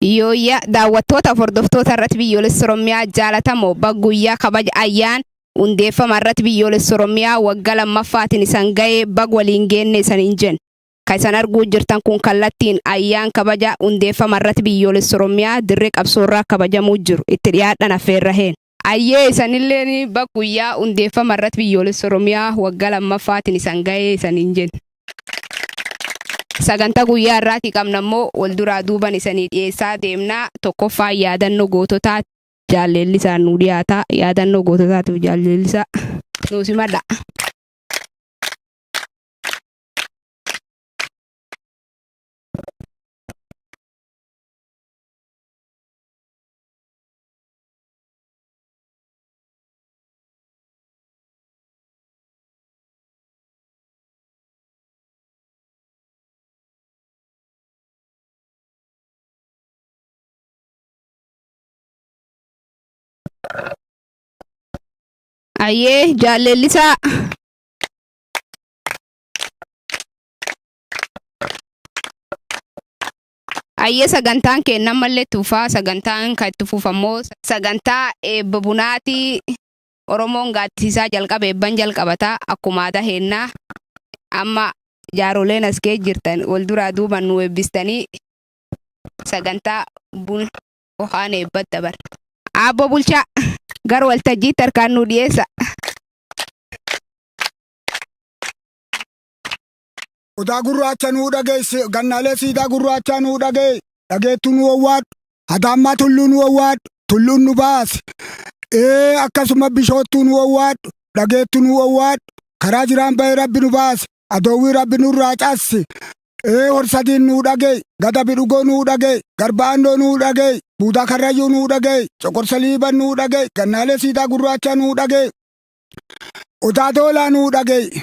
Yooyyaa daawwattootaaf hordoftoota irratti biyyoolessa Oromiyaa jaalatamoo bag guyyaa kabaja ayyaan hundeeffama irratti biyyoolessa Oromiyaa wagga lammaffaatiin isan ga'ee bag waliin geenne isaniin jenna. Ka isan arguu jirtan kun kallattiin ayyaan kabaja hundeeffama irratti biyyoolessa Oromiyaa dirree qabsoorraa kabajamuu jiru. Itti dhiyaadhan affeerraheen. Ayyee isanilleen bag guyyaa hundeeffama irratti biyyoolessa Oromiyaa waggaa lammaffaatiin isan gahee isaniin jenna. Sagantaa guyyaa irraatii qabna immoo wal duraa duuban isanii dhiyeessaa deemna. Tokkoffaan yaadannoo goototaa Jaal Leellisaan nuu dhiyaata. Yaadannoo goototaatiif Jaal Leellisaa nuu simadhaa. Ayyee jaalleellisaa. Ayyee sagantaan keenna ammallee itti fufaa sagantaan kan itti fufu ammoo sagantaa eebba bunaati Oromoon gaaddisiisaa jalqaba eebban jalqabata akkuma aadaa keenna amma jaaroleen as kee jirtan wal duraa duuban nu eebbistanii sagantaa bun okaan eebbat dabar. Aabbo bulchaa gar waltajjiitti harkaan nu dhiyeessa. Odaa gurraacha nuu dhageesse, gannaalee siidaa gurraachaa nuu dhagee, dhageettuu nu wawwaadhu, hataammaa tulluu nu wawwaadhu, tulluun nu baasi. Ee akkasuma bishoottuu nu wawwaadhu, dhageettuu nu wawwaadhu, karaa jiraan bahee rabbi nu baasi, adoowwii rabbi nurraa cassi. Ee horsadiin nuu dhagee, gada bidhugoo nuu dhagee, garba andoo nuu dhagee, buudaa karrayyuu nuu dhagee, coqorsa liiban nuu dhagee, gannaalee siidaa gurraachaa nuu dhagee, odaa doolaa nuu dhagee.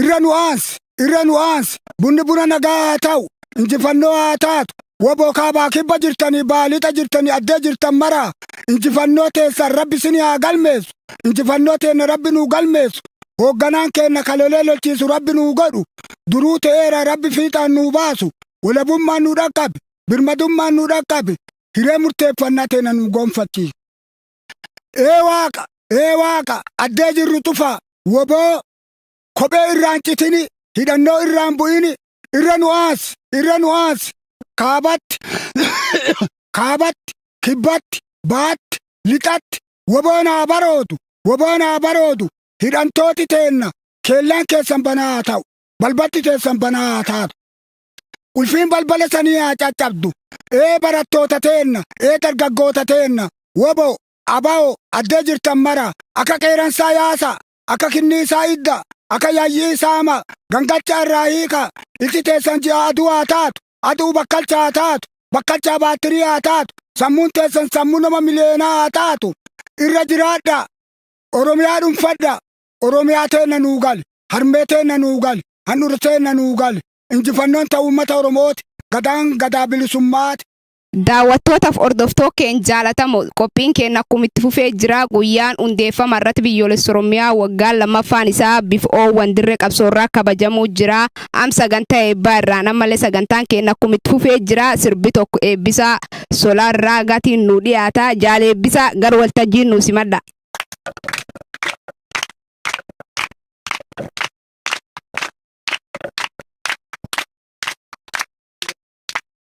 irra nu aansi irra nu aansi bunni buna nagaa haa ta'u injifannoo haa taatu waboo kaabaa kibba jirtanii baalixa jirtanii addee jirtan maraa injifannoo teessan rabbi sini haa galmeessu injifannoo teenna rabbi nuu galmeessu hoogganaan keenna kalolee lolchiisu rabbi nuu godhu duruu ta'eera rabbi fiixaan nuu baasu walabummaan nuu dhaqqabe birmadummaan nuu dhaqqabe hiree murteeffannaa teenna nuu gonfachiisu. Ee waaqa ee waaqa addee jirru cufaa waboo kophee irraan citini hidhannoo irraan bu'ini irra nu aasi irra nu aasi kaabatti kaabatti kibbatti baatti lixatti woboon haa baroodu woboon haa baroodu hidhantooti teenna keellaan keessan banaa haa ta'u balbatti keessan banaa haa taatu ulfiin balbala sanii haa caccabdu ee barattoota teenna ee dargaggoota teenna wobo abao addee jirtan mara akka qeeransaa yaasa akka kinniisaa idda, akka yayyii saama, gangacha irraa hiika, ilti teessan ji'a aduu haa taatu, aduu bakkalcha haa taatu, bakkalchaa baattirii haa taatu, sammuun teessan sammuu nama miliyeenaa haa taatu, irra jiraadha, Oromiyaa dhunfadha, Oromiyaa teenna nuu gali, harmee teenna nuu gali, handhura teenna nuu gali, injifannoon ta uummata Oromooti, gadaan gadaa bilisummaati. Daawwattootaf hordoftoo keeny jaalatamo qophiin keeny akkum itti fufee jiraa guyyaan hundeeffama irrat biyyoolessa orommiyaa waggaan 2ffaan isaa bif oowwan dirre qabsoo irraa kabajamuu jiraa am saganta eebbaa irraan ammalle sagantaan keeny akkum itti fufee jiraa sirbi tokko eebbisaa solar raaga tiin nuu dhiyaata jaal eebbisaa gar waltajjii nuu simadha.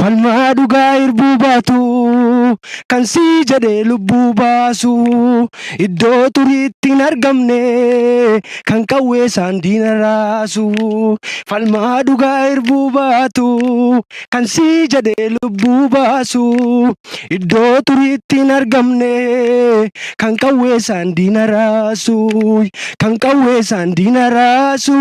Falmaa dhugaa irbuu baatu kan sii jedhee lubbuu baasu iddoo xuriitti hin argamne kan qawwee isaan diina raasu falmaa dhugaa irbuu baatu kan sii jedhee lubbuu baasu iddoo xuriitti hin argamne kan qawwee isaan diina raasu kan qawwee isaan diina raasu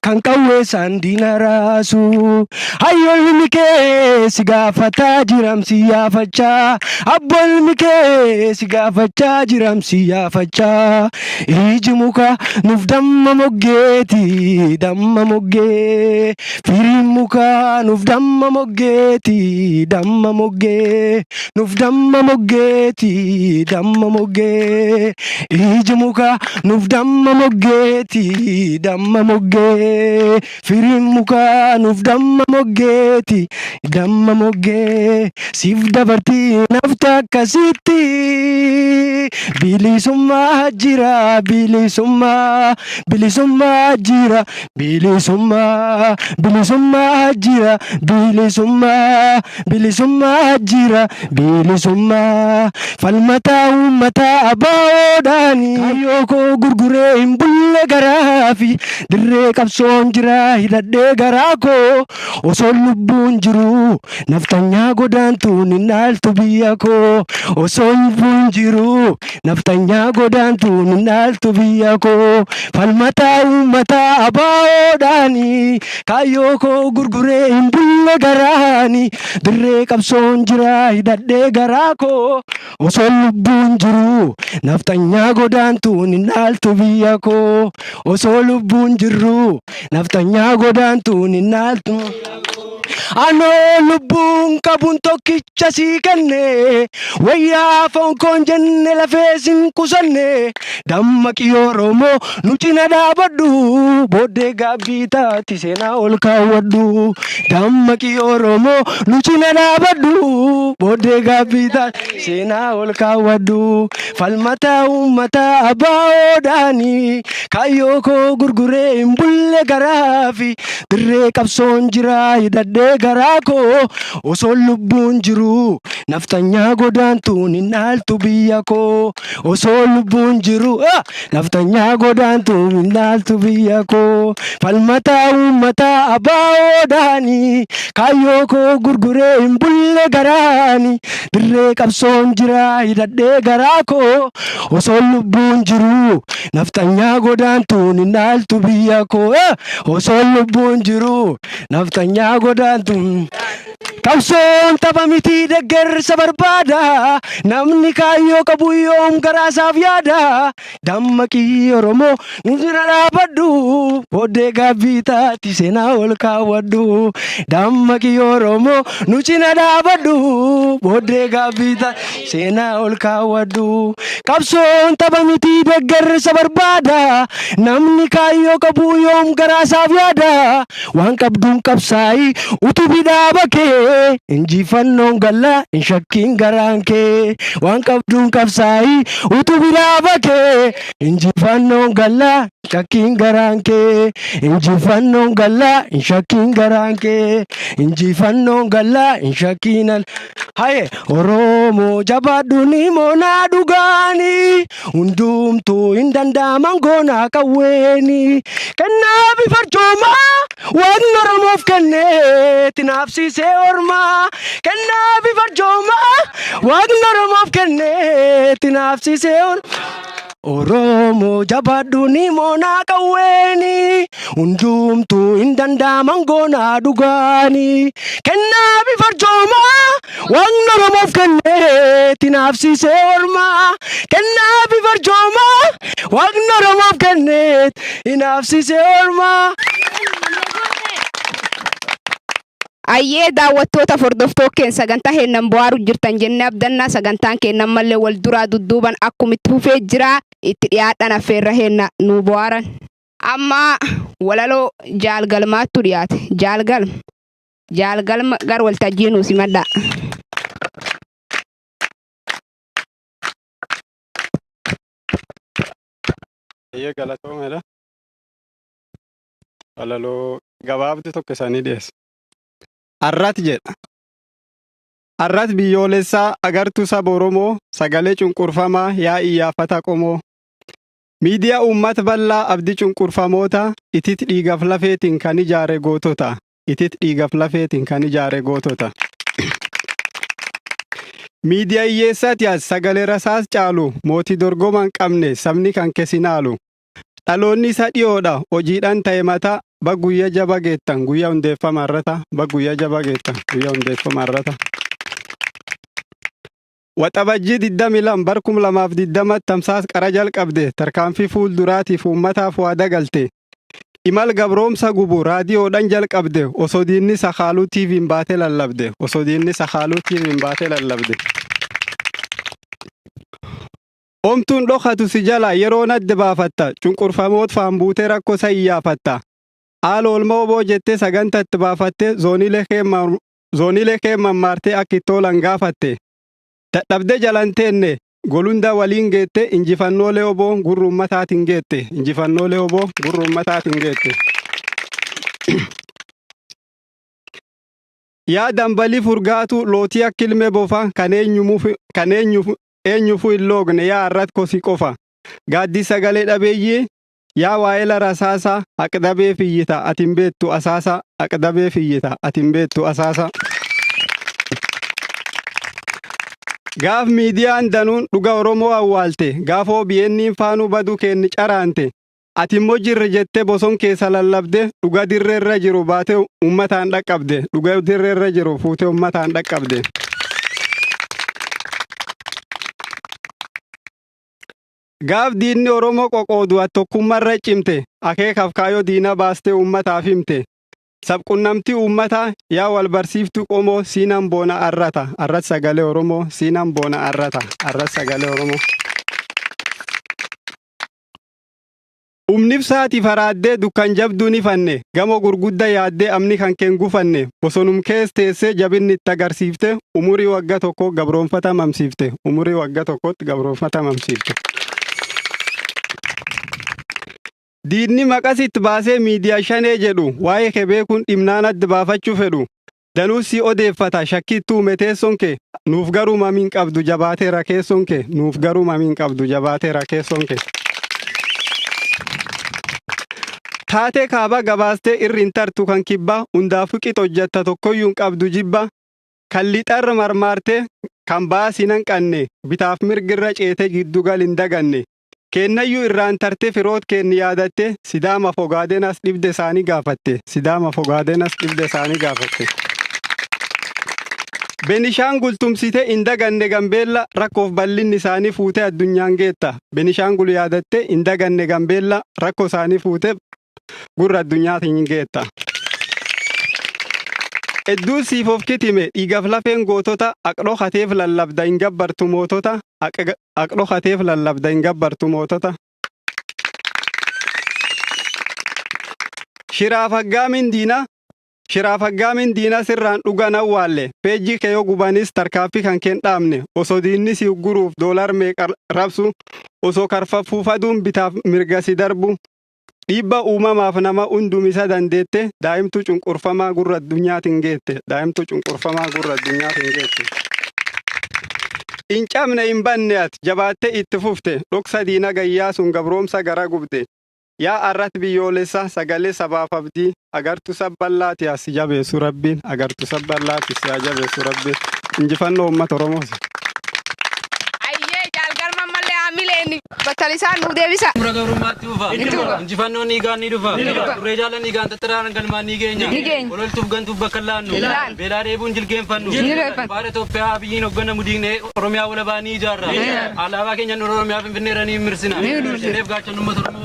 Kan qawweesaan diina raasu. Hayyoo ilmi kee si gaafataa jiram si yaafachaa. Abboo ilmi kee si gaafachaa jiram si yaafachaa. Iji muka nuuf damma moggeeti damma moggee. Firiin muka nuuf damma moggeeti damma moggee. Nuf damma moggeeti damma moggee iji muka nuf damma moggeeti damma moggee firiin muka nuf damma moggeeti damma moggee siif dabartii nafta akkasitti bilisummaa jira bilisummaa bilisummaa jira Bilisummaa bilisummaa jira bilisummaa bilisummaa jira bilisummaa falmataa uummataa abaawoodhaani. Kaayyoo koo gurguree hin bulle garaafi dirree qabsoon jira hidhadhee garaa koo osoo lubbuun jiru naftanyaa godaantuun hin dhaaltu biyya koo osoo lubbuun jiru. Nafxanyaa godaantuun hin dhaaltu biyya koo Falmataa uummataa abaawoodhaani Kaayyoo koo gurguree hin bulle garaani Dirree qabsoon jiraa hidhadhee garaa koo Osoon lubbuun jiruu Nafxanyaa godaantuun hin dhaaltu biyya koo Osoo lubbuun jirruu Nafxanyaa godaantuun hin dhaaltu Anoo lubbuun qabuun tokkicha sii kenne wayyaa foon koon jenne lafee sin qusanne dammaqi Oromoo nu cina dhaabadhu booddee gaabbii taati seenaa ol kaawwadhu dammaqi Oromoo nu cina dhaabadhu booddee gaabbii taati seenaa ol kaawwadhu falmataa uummataa abbaa odaanii kaayyoo koo gurguree hin bulle garaafi Dirree qabsoon jiraa hidhadhee garaa koo Osoon lubbuun jiruu nafxanyaa godaantuun hin dhaaltu biyya koo Osoo lubbuun jiru ah! nafxanyaa godaantuun hin dhaaltu biyya koo Falmataa uummataa abaa'oo dhaanii Kaayyoo koo gurguree hin bulle garaani Dirree qabsoon jiraa hidhadhee garaa koo Osoon lubbuun jiruu nafxanyaa godaantuun hin dhaaltu biyya koo ah! osoon lubbuun jiru nafxanyaa godaantu. Qabsoon tapha miti deggersa barbaada namni kaayyoo qabu yoom garaasaaf yaada dammaqii Oromoo nu bira dhaabadhu booddee gaabbii taati seenaa ol kaawwadhu dammaqii Oromoo nu cina dhaabadhu booddee gaabbii taati. Seenaa ol kaawwadhu. Qabsoon tapha miti deggersa barbaada. Namni kaayyoo qabu yoom garaasaaf yaada. Waan qabduun qabsaa'i utubi dhaaba kee. Injifannoon galla hin shakkiin garaan kee. Waan qabduun qabsaa'i utubi dhaaba kee. Injifannoon galla hin shakkiin garaan kee. Injifannoon galla hin shakkiin garaan kee. Injifannoon galla hin shakkiin al. Haye Oromoo jabaadhu ni moonaa dhugaani hundumtuu hin danda'aman goonaa qawweeni kennaa fi farcoomaa waaqni Oromoof kenne tinaafsiisee ormaa kennaa fi farcoomaa waaqni Oromoof kenne tinaafsiisee ormaa. Oromoo jabaadhu ni moonaa qawweeni hundumtuu hin dandaaman goonaa dhugaani kennaa bifarjoomaa waaqni oromoof kenneeti naafsiisee ormaa kennaa bifarjoomaa waaqni oromoof kenneeti naafsiisee ormaa. Ayyee daawwattoota fordoftookeen sagantaa heennan bo'aaru jirtan jennee abdannaa sagantaan keenna ammallee wal duraa dudduuban akkum itti fufee jira itti dhiyaadhan affeerra heenna nuu bo'aaran. Amma walaloo jaal galmaattu dhiyaate jaal galm jaal galm gar waltajjii nuu simadhaa. Ayyee galatoomeedha. walaloo gabaabdu tokko isaanii dhiyeessa. Arrat jedha. Arrat biyyoolessaa agartuu saba Oromoo sagalee cunqurfamaa yaa iyyaafata qomoo. Miidiyaa uummata bal'aa abdii cunqurfamoota itit dhiigaf lafeetiin kan ijaare gootota. Itit dhiigaf lafeetiin kan ijaare gootota. Miidiyaa hiyyeessaati as sagalee rasaas caalu mootii dorgomaan qabne sabni kan kesinaalu. Dhaloonni isa dhiyoodha hojiidhaan ta'e mataa bag guyya jaba geettan guyya hundeeffama irrata bag guyya jaba geettan guyya hundeeffama irrata. Waxabajjii 22 bar 2020 tamsaas qara jalqabde tarkaanfii fuul duraatiif uummataaf waa dagalte. Imal gabroomsa gubu raadiyoodhaan jalqabde osoo diinni sakaaluu TV'n baate lallabde osoo diinni sakaaluu TV'n baate lallabde. Omtuun dhokatu si jala yeroon adda baafatta cunqurfamoot faan buutee rakkoo sa iyyaafatta. Haala oolmaa oboo jettee saganta itti baafattee zooniilee kee mammaartee akka itti oolan gaafatte. Dadhabdee jalan teenne golundaa waliin geette injifannoolee oboo gurra ummataatiin geette injifannoolee oboo gurra ummataatiin geette. Yaa dambalii furgaatuu lootii akka ilmee bofa kan eenyuuf eenyufuu hin loogne yaa arratkoo si qofa gaaddisa sagalee dhabeeyyii yaa waa'ela rasaasaa haqdabeef iyyita ati hin beektu asaasaa haqdabeef iyyita ati hin beektu asaasaa. Gaaf miidiyaan danuun dhuga Oromoo awwaalte gaaf OBN'n faanuu baduu keenni caraante Ati immoo jirra jettee boson keessa lallabde dhuga dirree irra jiru baatee uummataan dhaqqabde dhuga dirree irra jiru fuutee uummataan dhaqqabde. Gaaf diinni Oromoo qoqoodu ati tokkummaa irra cimte akeekaaf kaayoo diina baastee uummataaf himte. Sabqunnamtii uummataa yaa wal barsiiftuu qomoo siinan boona arrata arras sagalee Oromoo siinan boona arrata arras sagalee Oromoo. Humni ibsaati faraaddee dukkan jabduu ni fanne gamoo gurgudda yaaddee amni kan keen gufanne bosonum kees teessee jabinni itti agarsiifte umurii wagga tokko gabroonfata mamsiifte umurii wagga tokkotti gabroonfata mamsiifte. Diinni maqas itti baasee miidiyaa shanee jedhu waa'ee kee beekuun dhimnaan adda baafachuu fedhu Danuus si odeeffata shakkiittuu me teessoon kee nuuf garuu mamiin qabdu jabaateera keessoon kee nuuf garuu mamiin qabdu jabaateera keessoon kee. Taatee kaabaa gabaastee irri hin tartu kan kibbaa hundaafuu qixa hojjetta tokkoyyuu hin qabdu jibbaa kan lixarra marmaartee kan baasii nan qanne bitaaf mirgirra ceetee giddu gal hin daganne Keennayyu irraan tarte firoot keenni yaadatte Sidaama Fogaadenas dhibde isaanii gaafatte. Sidaama Fogaadenas dhibde isaanii gaafatte. Benishaangul tumsite hin daganne Gambeella rakkoof bal'inni isaanii fuute addunyaan geetta. Benishaangul yaadatte hin daganne Gambeella rakkoo isaanii fuute gurra addunyaatiin hin geetta. Hedduu siif of kitime dhiigaf lafeen gootota aqdho kateef lallabda hin gabbartu mootota aqdho kateef lallabda hin gabbartu mootota. Shiraaf haggaamin diina shiraaf haggaamin diina sirraan dhugan awwaalle peejjii kee yoo gubanis tarkaaffii kan keen dhaabne osoo diinni si ugguruuf doolar meeqa rabsu osoo karfaffuuf aduun bitaaf mirga si darbu Dhiibba uumamaaf nama hundumisa dandeette daa'imtuu cunqurfamaa gurra addunyaatiin geette. Daa'imtuu cunqurfamaa gurra addunyaatiin geette. Hin cabne hin banne ati jabaattee itti fufte dhoksa diina gayyaa sun gabroomsa gara gubde. Yaa arrat biyyoolessa sagalee sabaaf abdii. Agartu sabballaati haa si jabeessu rabbiin. Agartu sabballaati si haa jabeessu rabbiin. Injifannoo uummata Oromoos. Ayyee jaal garma mallee haamileen battalisaan nuu deebisa. Xumura gabrummaatti fufa. Injifannoon dhiigaan ni dhufa. Turree jaalan dhiigaan xaxxaraan galmaan ni geenya. Ololtuuf gantuuf bakka hin laannu. Beelaa dheebuun jilgeenfannu. Baara Itoophiyaa Abiyyiin hogganamu diignee Oromiyaa walabaa ni ijaarra. Alaabaa keenya handhuura Oromiyaa Finfinneerra ni mirsina. Qeerreef gaachanni uummata Oromoo.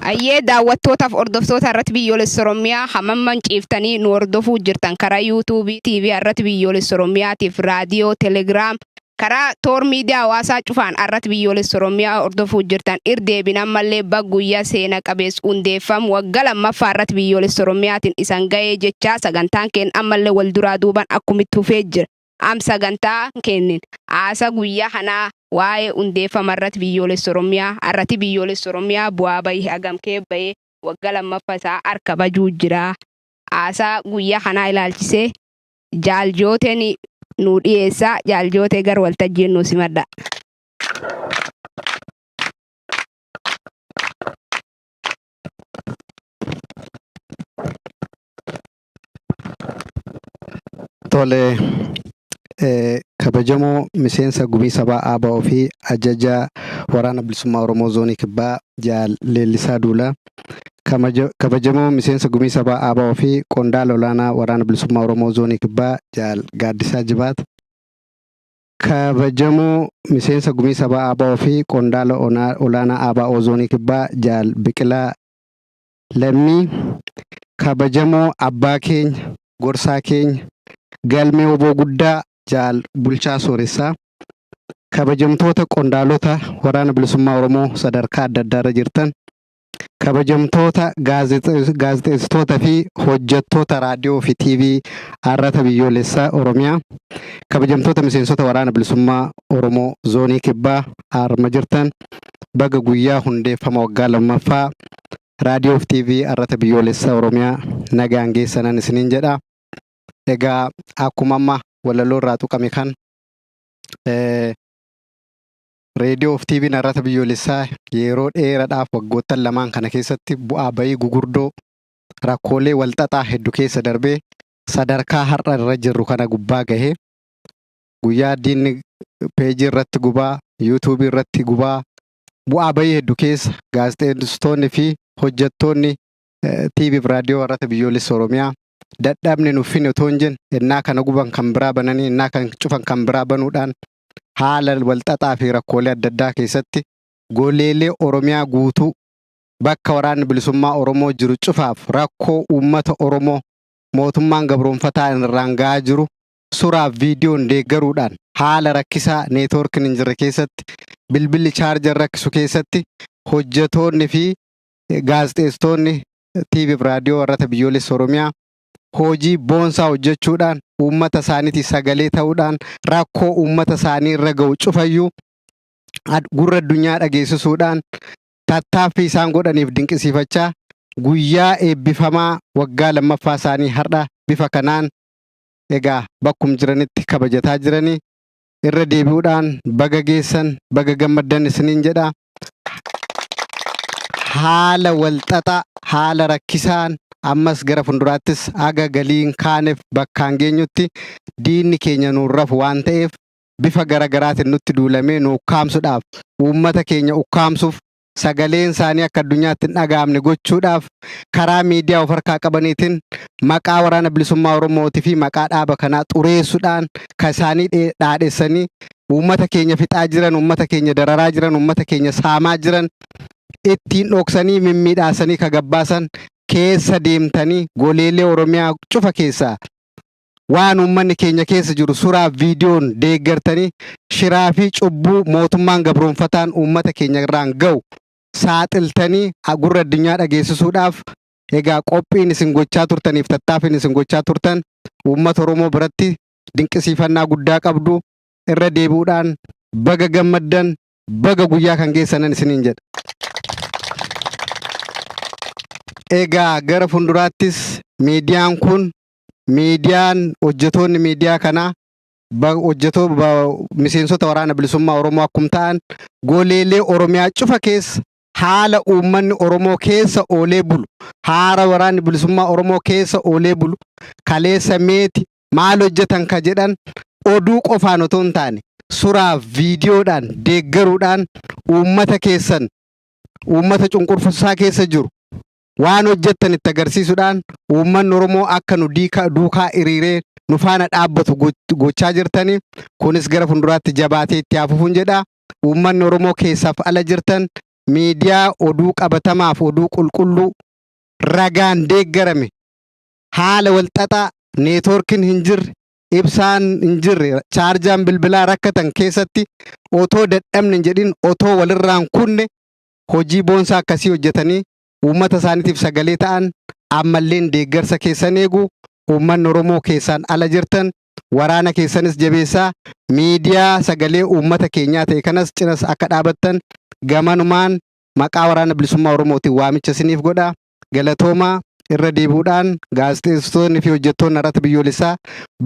Ayyee daawwattootaaf hordoftoota irratti biyyoolessa Oromiyaa hamamman ciiftanii nu hordofuu jirtan karaa YouTube, TV irratti biyyoolessa Oromiyaatiif raadiyoo, Telegram, karaa toor miidiyaa hawaasaa cufaan irratti biyyoolessa Oromiyaa hordofuu jirtan irdeebin ammallee bag guyyaa seena qabees hundeeffam wagga lammaffaa irratti biyyoolessa Oromiyaatiin isan gahee jechaa sagantaan keen ammallee wal duraa duuban akkumitti hufee jira. am sagantaa keennin haasa guyya kanaa waa'ee hundeeffama irrati biyyoolessa Orommiyaa arrati biyyoolessa Orommiyaa bu'aa bayi hagam kee baye wagga lammaffa isaa ar kabajuu jira haasa guyya kanaa ilaalchise jaal joote ni nuu dhiyeessa jaal joote gar waltajjiin nuu simadha. Tole, kabajamoo miseensa gumii sabaa ABO fi ajajaa waraana bilisummaa Oromoo zoonii kibbaa Jaal Leellisaa Duulaa, kabajamoo miseensa gumii sabaa ABO fi qondaala olaanaa waraana bilisummaa Oromoo zoonii kibbaa Jaal Gaaddisaa Jibaat, kabajamoo miseensa gumii sabaa ABO fi qondaala olaanaa ABO zoonii kibbaa Jaal Biqilaa Lammii kabajamoo abbaa keenya, gorsaa keenya, galmee wbo guddaa jaal Bulchaa Sooressaa, kabajamtoota qondaalota Waraana Bilisummaa Oromoo sadarkaa adda addaa irra jirtan, kabajamtoota gaazexeessitoota fi hojjattoota raadiyoo fi TV Arrata Biyyoolessa Oromiyaa, kabajamtoota miseensota Waraana Bilisummaa Oromoo Zoonii Kibbaa arma jirtan baga guyyaa hundeeffama waggaa lammaffaa Raadiyoo fi TV Arrata Biyyoolessa Oromiyaa nagaan geessanan isiniin jedha. Egaa akkuma amma walaloo irraa tuqame kan Reediyoo fi TV'n Arrata Biyyoolessaa yeroo dheeradhaaf waggoottan lamaan kana keessatti bu'aa bayii gugurdoo rakkoolee walxaxaa heddu keessa darbee sadarkaa har'a irra jirru kana gubbaa gahee guyyaa diinni peejii irratti gubaa yuutuubii irratti gubaa bu'aa bayii heddu keessa gaazexeessitoonni fi hojjattoonni TV fi raadiyoo warrata biyyoolessa Oromiyaa dadhabne nuuf hin otoo hin jenne ennaa kana guban kan biraa bananii ennaa kan cufan kan biraa banuudhaan haala walxaxaa fi rakkoolee adda addaa keessatti goleelee Oromiyaa guutuu bakka waraanni bilisummaa Oromoo jiru cufaaf rakkoo uummata Oromoo mootummaan gabroonfataa irraan ga'aa jiru Suraaf viidiyoon deeggaruudhaan haala rakkisaa networkin hin jirre keessatti bilbilli charger rakkisu keessatti hojjetoonni fi gaazexeessitoonni TV fi raadiyoo warrata biyyoolessa Oromiyaa hojii boonsaa hojjechuudhaan uummata isaaniitii sagalee ta'uudhaan rakkoo uummata isaanii irra ga'u cufayyuu ad- gurra addunyaa dhageessisuudhaan tattaaffii isaan godhaniif dinqisiifachaa guyyaa eebbifamaa waggaa lammaffaa isaanii har'a bifa kanaan egaa bakkum jiranitti kabajataa jirani irra deebi'uudhaan baga geessan baga gammaddan isiniin jedha haala walxaxaa haala rakkisaan ammas gara funduraattis aga galiin kaaneef bakkaan geenyutti diinni keenya nuun rafu waan ta'eef bifa gara garaatiin nutti duulamee nu ukkaamsudhaaf uummata keenya ukkaamsuuf sagaleen isaanii akka addunyaatti hin dhaga'amne gochuudhaaf karaa miidiyaa of harkaa qabaniitiin maqaa waraana bilisummaa Oromootii fi maqaa dhaaba kanaa xureessuudhaan kan isaanii dhee- dhaadhessanii uummata keenya fixaa jiran, uummata keenya dararaa jiran, uummata keenya saamaa jiran ittiin dhoksanii mimmiidhaasanii ka gabbaasan keessa deemtanii goleelee Oromiyaa cufa keessaa waan uummanni keenya keessa jiru suraa fi viidiyoon deeggartanii shiraa fi cubbuu mootummaan gabroonfataan uummata keenya irraan ga'u saaxiltanii gurra addunyaa dhageessisuudhaaf egaa qophiin isin gochaa turtaniif tattaaffiin isin gochaa turtan uummata Oromoo biratti dinqisiifannaa guddaa qabdu irra deebi'uudhaan baga gammaddan baga guyyaa kan geessanan isiniin jedha. Egaa gara fuulduraattis miidiyaan kun miidiyaan hojjetoonni miidiyaa kanaa ba- hojjetoo ba- miseensota waraana bilisummaa Oromoo akkum ta'an goleelee Oromiyaa cufa keessa haala uummanni Oromoo keessa oolee bulu haara waraanni bilisummaa Oromoo keessa oolee bulu kaleessa meeti maal hojjetan ka jedhan oduu qofaan otoo hin taane suraaf viidiyoodhaan deeggaruudhaan uummata keessan uummata cunqurfamsaa keessa jiru waan hojjettan itti agarsiisuudhaan uummanni Oromoo akka nu diika- duukaa hiriiree nu faana dhaabbatu goch- gochaa jirtani. Kunis gara fuulduraatti jabaatee itti haa fufuun jedha. Uummanni Oromoo keessaaf ala jirtan miidiyaa oduu qabatamaaf oduu qulqulluu ragaan deeggarame haala walxaxaa neetwoorkiin hin jirre ibsaan hin jirre chaarjaan bilbilaa rakkatan keessatti otoo dadhabne hin jedhin otoo walirraan kunne hojii boonsaa akkasii hojjetanii uummata isaaniitiif sagalee ta'an ammalleen deeggarsa keessan eegu uummanni Oromoo keessaan ala jirtan waraana keessanis jabeessaa miidiyaa sagalee uummata keenyaa ta'e kanas cinas akka dhaabattan gamanumaan maqaa waraana bilisummaa Oromootiin waamicha isiniif godha. galatoomaa irra deebi'uudhaan gaazexeessitoonni fi hojjettoonni Arata Biyyoolessaa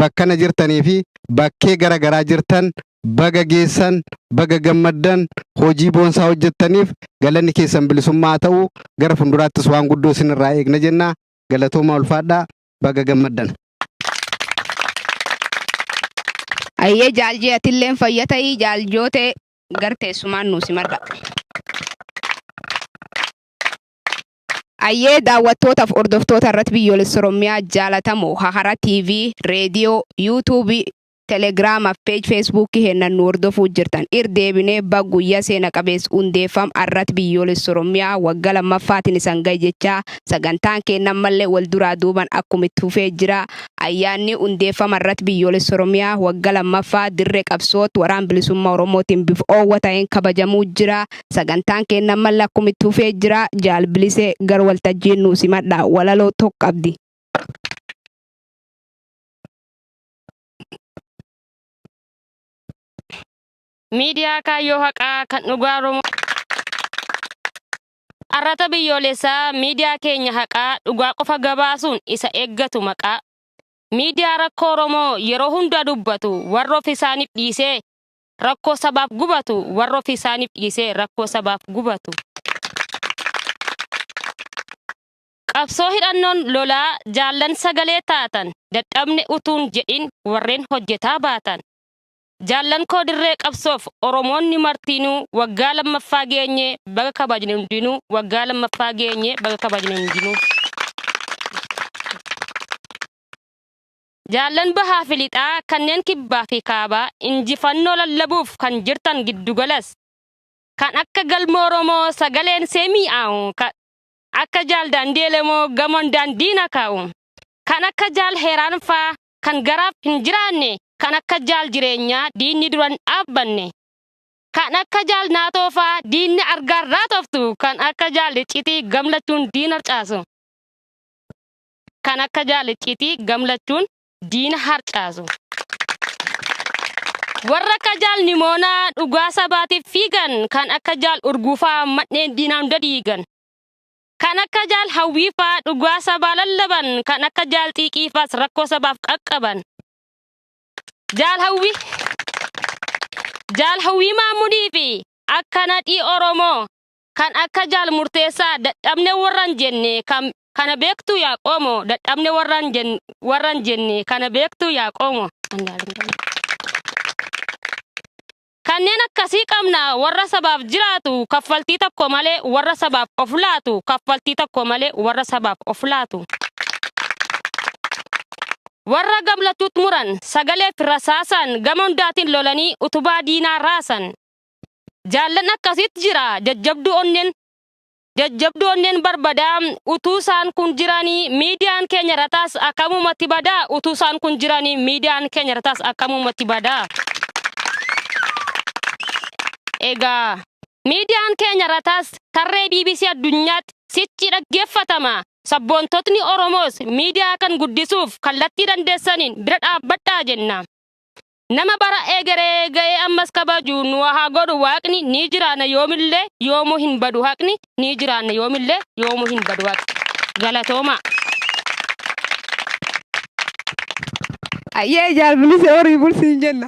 bakkana jirtanii fi bakkee gara garaa jirtan baga geessan, baga gammaddan, hojii boonsaa hojjettaniif galanni keessan bilisummaa haa ta'u, gara fuulduraattis waan guddoo isinirraa eegna jenna. Galatoomaa ulfaadhaa baga gammaddan. Ayyee jaaljee atilleen fayya ta'ii jaaljootee gar teessumaan nuu simadha. Ayyee daawwattootaf hordoftoota irrat biyyoolessa orommiyaa jaalatamoo hahara tv radio youtube telegrama page facebook heennan nu hordofuu jirtan ir deebinee bag guyya seena qabeess hundeeffam arrat biyyoolessa orommiyaa wagga lammaffaatin isan gahe jechaa sagantaan keenna ammalle wal duraa duuban akkum itt fufee jira ayyaanni hundeeffama irrat biyyoolessa orommiyaa wagga lammaffaa dirre qabsoott waraan bilisumma oromootin bif oowwa tahen kabajamuu jira Sagantaan keenna ammalle akkum itti fufee jira. Jaal Bilisee gar waltajjiin nuu simadha. Walaloo tokko qabdi. Miidiyaa Kaayyoo Haqaa kan dhugaa Oromoo Arrata biyyoolessaa miidiyaa keenya haqaa dhugaa qofa gabaasuun isa eeggatu maqaa miidiyaa rakkoo Oromoo yeroo hundaa dubbatu warra of isaaniif dhiisee Rakkoo sabaaf gubatu warra ofii isaaniif dhiisee rakkoo sabaaf gubatu. Qabsoo hidhannoon lolaa jaallan sagalee taatan dadhabne utuun jedhin warreen hojjetaa baatan. Jaallan koo dirree qabsoof Oromoonni martiinuu waggaa lammaffaa geenye baga kabajne hundinuu waggaa lammaffaa geenye baga kabajne hundinuu. Jaallan Bahaa fi Lixaa kanneen Kibbaa fi Kaabaa injifannoo lallabuuf kan jirtan giddugalas kan akka Galma Oromoo sagaleen see mii'aawu kan akka Jaal Daandii Elemoo gamoon daandii na kaa'u kan akka Jaal Heeraan faa kan garaaf hin jiraanne kan akka Jaal Jireenyaa diinni dura hin dhaabbanne kan akka Jaal Naatoo faa diinni argaan raatoftu kan akka Jaal Iccitii gamlachuun diina harcaasu. kan akka jaal icciitii gamlachuun diina harcaasu. Warra akka jaal nimoonaa dhugaa sabaatiif fiigan kan akka jaal urguufaa manneen diinaa hunda diigan. Kan akka jaal hawwiifaa dhugaa sabaa lallaban kan akka jaal xiiqiifaas rakkoo sabaaf qaqqaban. Jaal hawwii jaal hawwii maamudii fi akka nadhii Oromoo kan akka jaal murteessaa dadhabne warran jenne kan kana beektu yaa qoomo dadhabne warran jenne warran jenne kana beektu yaa qoomo kanneen akkasii qabna warra sabaaf jiraatu kaffaltii tokko malee warra sabaaf of laatu kaffaltii tokko malee warra sabaaf of laatu warra gamlachuut muran sagalee fi rasaasaan gama hundaatiin lolanii utubaa diinaa raasan Jaallan akkasiit jira jajjabduu onneen jajjabduu onneen barbadaa utuu isaan kun jiranii miidiyaan keenya rataas akkamumatti badaa utuu isaan kun jiranii miidiyaan keenya rataas akkamumatti badaa. Egaa miidiyaan keenya rataas tarree BBC addunyaatti sichi dhaggeeffatama. Sabboontotni Oromoos miidiyaa kan guddisuuf kallattii dandeessaniin bira dhaabbadhaa jenna. Nama bara egeree ga'ee ammas kabaju nu haa godhu waaqni ni jiraanna yoomillee yoomuu hin badu haqni ni jiraanna yoomillee yoomuu hin badu haqni. Galatoomaa. Ayyee jaal bilisee horii bulsiin jenna.